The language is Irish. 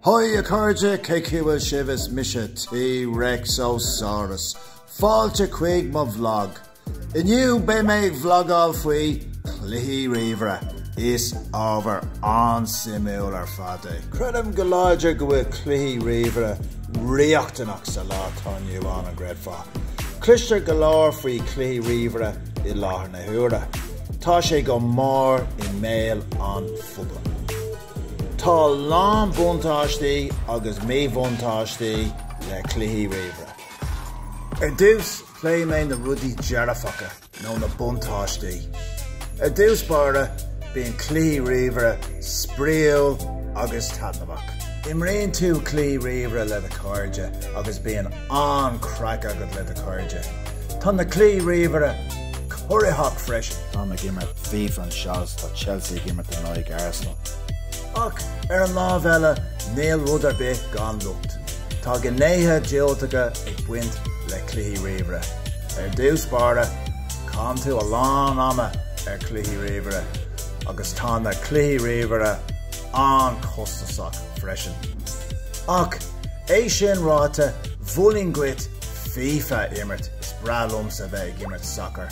Haigh a chairde, cén chaoi a bhfuil sibh is mise T. Rex Ó Sáras. Fáilte chuig mo bhlag. Inniu beidh mé ag bhlagáil faoi chluichí ríomhaire is ábhar an-suimiúil ar fad é. Creidim go láidir go bhfuil cluichí ríomhaire riachtanach sa lá atá inniu ann, an gcreidfeá? Cloistear go leor faoi chluichí ríomhaire i láthair na huaire. Tá sé go mór i mbéal an phobail. Tá a lán buntáistí agus míbhuntáistí le cluichí ríomhaire. Ar dtús, pléifidh mé na rudaí dearfacha nó na buntáistí. Ar dtús báire, bíonn cluichí ríomhaire spraíúil agus taitneamhach. Imríonn tú cluichí ríomhaire le do chairde agus bíonn an-chraic agat le do chairde. Tá na cluichí ríomhaire corraitheach freisin. Táim ag imirt FIFA anseo. Tá Chelsea ag imirt in aghaidh Arsenal. Ach, ar an lámh eile, níl rud ar bith gan locht. Tá gnéithe diúltacha ag baint le cluichí ríomhaire. Ar dtús báire, caitheann tú a lán ama ar chluichí ríomhaire agus tá na cluichí ríomhaire an-chostasach freisin. Ach, é sin ráite, mholfainn dhuit FIFA a imirt, is breá liomsa bheith ag imirt sacair.